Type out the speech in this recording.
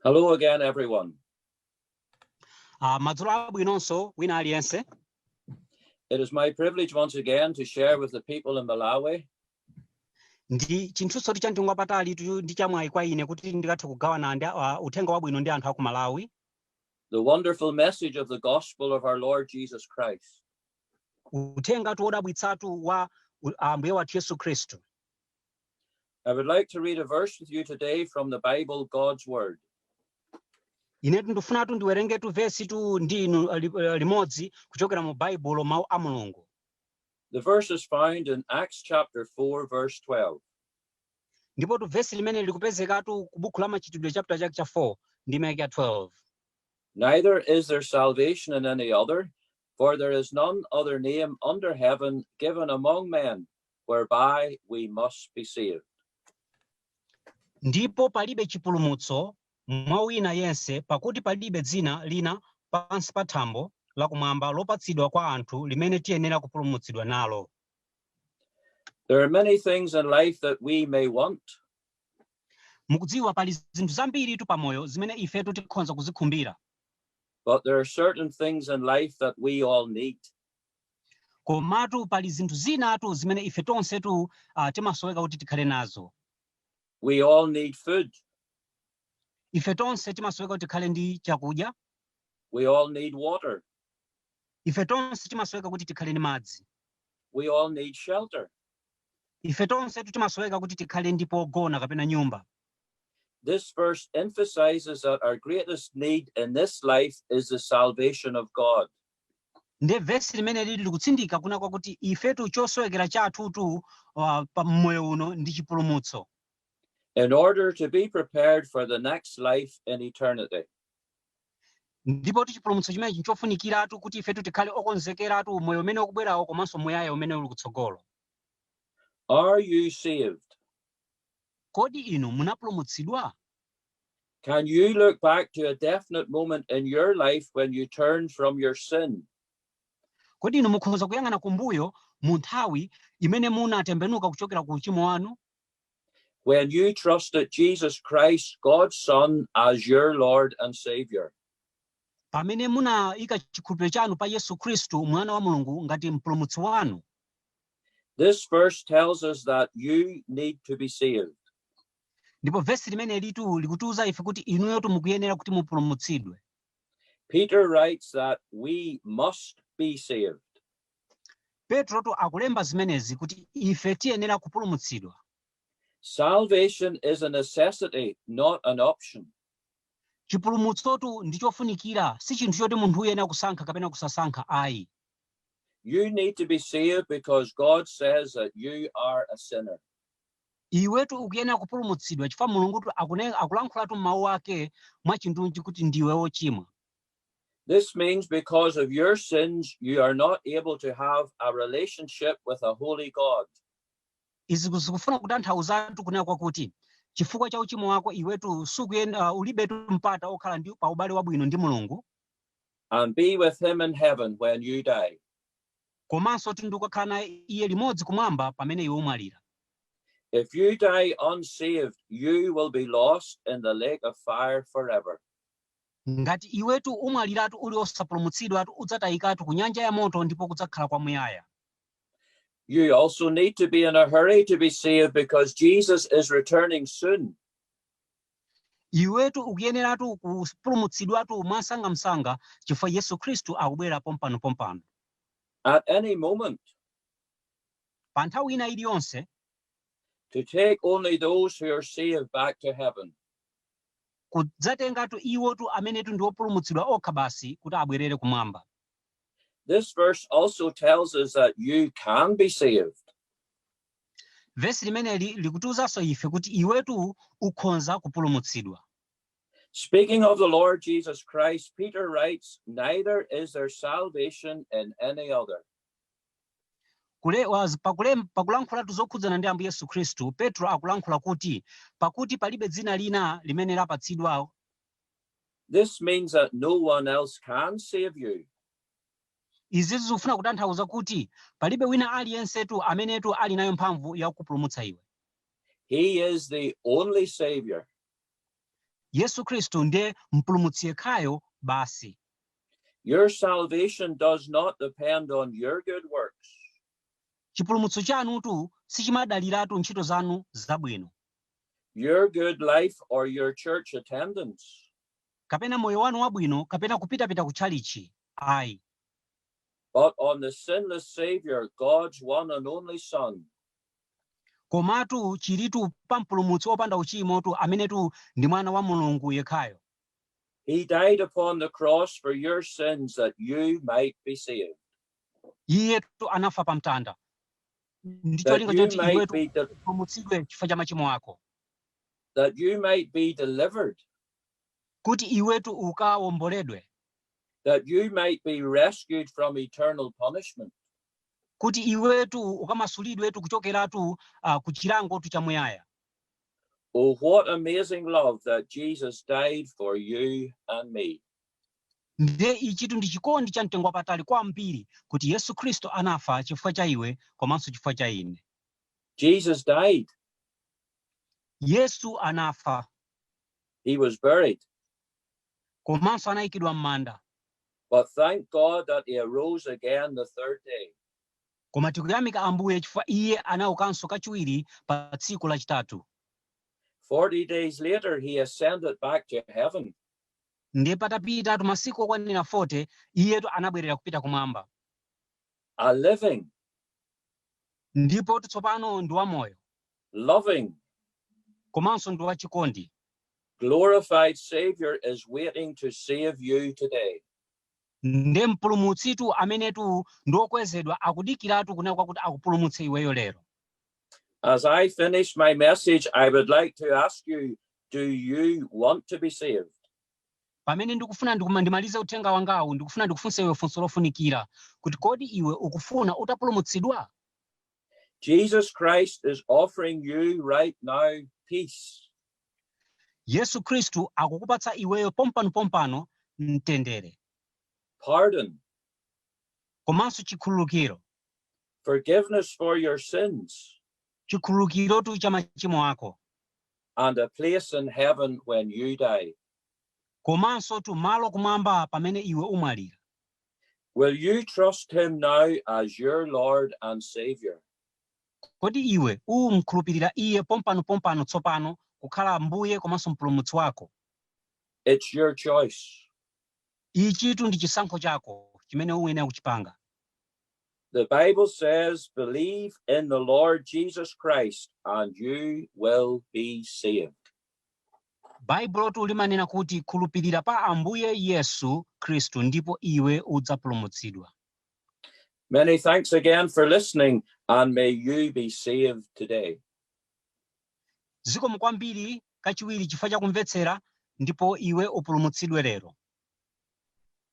Hello again, everyone. Madzulo abwinonso wina aliyense. It is my privilege once again to share with the people in Malawi ndi chinthunsotu chamtengo wapatali ndi chamwayi kwa ine kuti ndikathe kugawana ndi uh, uthenga wabwino ndi anthu aku malawi the wonderful message of the gospel of our lord jesus christ uthengatu wodabwitsatu wa uh, ambuye wathu yesu khristu I would like to read a verse with you today from the Bible, God's Word. inetu ndikufunatu ndiwerengetu vesi tu ndi inu eh, li- eh, limodzi kuchokera mu baibulo mawu a mulungu The verse is found in Acts chapter 4, verse 12. ndipo tu vesi limene likupezekatu ku buku la machitidwe chapter chake cha 4 ndime yake ya 12 Neither is there salvation in any other, For there is none other name under heaven given among men whereby we must be saved. ndipo palibe chipulumutso mwa wina yense pakuti palibe dzina lina pansi pa thambo lakumwamba lopatsidwa kwa anthu limene tiyenera kupulumutsidwa nalo There are many things in life that we may want, mukudziwa pali zinthu zambiritu pamoyo zimene ifetu tikhoza kuzikhumbira But there are certain things in life that we all need. komatu pali zinthu zinatu zimene ife tonsetu uh, timasoweka kuti tikhale nazo We all need food. ife tonse timasoweka kuti tikhale ndi chakudya We all need water. ife tonse timasoweka kuti tikhale ndi madzi We all need shelter. ife tonsetu timasoweka kuti tikhale ndi pogona kapena nyumba This verse emphasizes that our greatest need in this life is the salvation of God. nde vesi limeneli likutsindika kunena kwakuti ifetu chosowekera chathutu uh, pa mmoyo uno ndi chipulumutso in order to be prepared for the next life in eternity. ndipotu chipulumutso chimenechi nchofunikiratu kuti ifetu tikhale okonzekeratu moyo umene ukubwerawo komanso muyaya umene uli kutsogolo Are you saved? Kodi inu munapulumutsidwa? Can you look back to a definite moment in your life when you turned from your sin? Kodi inu mukhoza kuyang'ana kumbuyo mu nthawi imene munatembenuka kuchokera ku uchimo wanu? When you trusted Jesus Christ, God's Son, as your Lord and Savior. Pamene munaika chikhulupiriro chanu pa Yesu Khristu, Mwana wa Mulungu, ngati mpulumutsi wanu. This verse tells us that you need to be saved. ndipo vesi limenelitu likutiuza ife kuti inuyotu mukuyenera kuti mupulumutsidwe Peter writes that we must be saved. petrotu akulemba zimenezi kuti ife tiyenera kupulumutsidwa Salvation is a necessity, not an option. chipulumutsotu ndi chofunikira si chinthu choti munthu uyenera kusankha kapena kusasankha ayi You need to be saved because God says that you are a sinner. iwetu ukuyenera kupulumutsidwa chifukwa mulungutu akune- akulankhulatu m'mawu ake mwachindunji kuti ndiwe wochimwa This means because of your sins, you are not able to have a relationship with a holy God. izi ku- zikufuna kutanthauzatu kunena kwakuti chifukwa cha uchimo wako iwetu sukuyenda uh, ulibetu mpata okhala ndi pa ubale wabwino ndi mulungu and be with him in heaven when you die. komanso kuti ndikukakhala naye iye limodzi kumwamba pamene iwe umwalira If you die unsaved, you will be lost in the lake of fire forever. ngati iwetu umwaliratu uli osapulumutsidwatu udzatayikatu ku nyanja ya moto ndipo kudzakhala kwamuyaya You also need to be in a hurry to be saved because Jesus is returning soon. Iwetu ukuyeneratu kupulumutsidwatu mwamsangamsanga chifukwa Yesu Khristu akubwera pompanopompano. at any moment, Pa nthawi ina iliyonse to take only those who are saved back to heaven. kudzatengatu iwotu amenetu ndi opulumutsidwa okha basi kuti abwerere kumwamba. This verse also tells us that you can be saved. Vesi limeneli likutiuzanso ife kuti iwetu ukhonza kupulumutsidwa. Speaking of the Lord Jesus Christ, Peter writes, Neither is there salvation in any other. Kule, was, pakule, pakulankhulatu zokhudzana ndi Ambuye Yesu Khristu, Petro akulankhula kuti, pakuti palibe dzina lina limene lapatsidwa This means that no one else can save you. Izitu zikufuna kutanthauza kuti palibe wina aliyensetu amenetu ali nayo mphamvu ya kukupulumutsa iwe. He is the only Savior. Yesu Khristu ndiye mpulumutsi yekhayo basi. Your salvation does not depend on your good works. Chipulumutso chanutu sichimadaliratu ntchito zanu zabwino. Your good life or your church attendance. kapena moyo wanu wabwino, kapena kupitapita ku tchalitchi. Ayi. But on the sinless Savior, God's one and only Son. Komatu chilitu pa mpulumutsi opanda uchimotu amenetu ndi mwana wa Mulungu yekhayo. He died upon the cross for your sins that you might be saved. Iyetu anafa pa mtanda ndi cholinga choti iwetu upulumutsidwe chifukwa cha machimo ako, that you might be delivered kuti iwetu ukawomboledwe, that you might be rescued from eternal punishment. kuti iwetu ukamasulidwetu kuchokeratu ah, ku chilangotu chamuyaya. Oh, what amazing love that Jesus died for you and me. Ndiye ichitu ndi chikondi cha mtengo wapatali kwambiri kuti Yesu Khristu anafa chifukwa cha iwe komanso chifukwa cha ine. Jesus died. Yesu anafa He was buried. komanso anayikidwa m'manda But thank God that he arose again the third day. koma tikuyamika ambuye chifukwa iye anaukanso kachiwiri pa tsiku lachitatu 40 days later, he ascended back to heaven. ndiye patapitatu masiku okwanira 40 iyetu anabwerera kupita kumwamba A living, ndipo tsopano ndi wamoyo loving. komanso ndi wachikondi Glorified Savior is waiting to save you today. nde mpulumutsitu amenetu ndi wokwezedwa akudikiratu kunena kwakuti akupulumutse iweyo lero As I finish my message, I would like to ask you do you want to be saved? pamene ndikufuna ndimalize uthenga wangawu ndikufuna ndikufunse iwe funso lofunikira kuti kodi iwe ukufuna utapulumutsidwa Jesus Christ is offering you right now peace. yesu khristu akukupatsa iweyo pompano pompano mtendere pardon, komanso chikhululukiro forgiveness for your sins, chikhululukirotu cha machimo ako and a place in heaven when you die. komanso tu malo kumwamba pamene iwe umwalira Will you trust him now as your Lord and Savior? Kodi iwe umkhulupirira iye pompano pompano tsopano kukhala Ambuye komanso mpulumutsi wako? It's your choice. Ichitu ndi chisankho chako chimene uyenera kuchipanga. The Bible says, believe in the Lord Jesus Christ and you will be saved. Baibulotu limanena kuti, Khulupirira pa Ambuye Yesu Khristu ndipo iwe udzapulumutsidwa. Many thanks again for listening and may you be saved today. Zikomo kwambiri kachiwiri chifukwa cha kumvetsera ndipo iwe upulumutsidwe lero.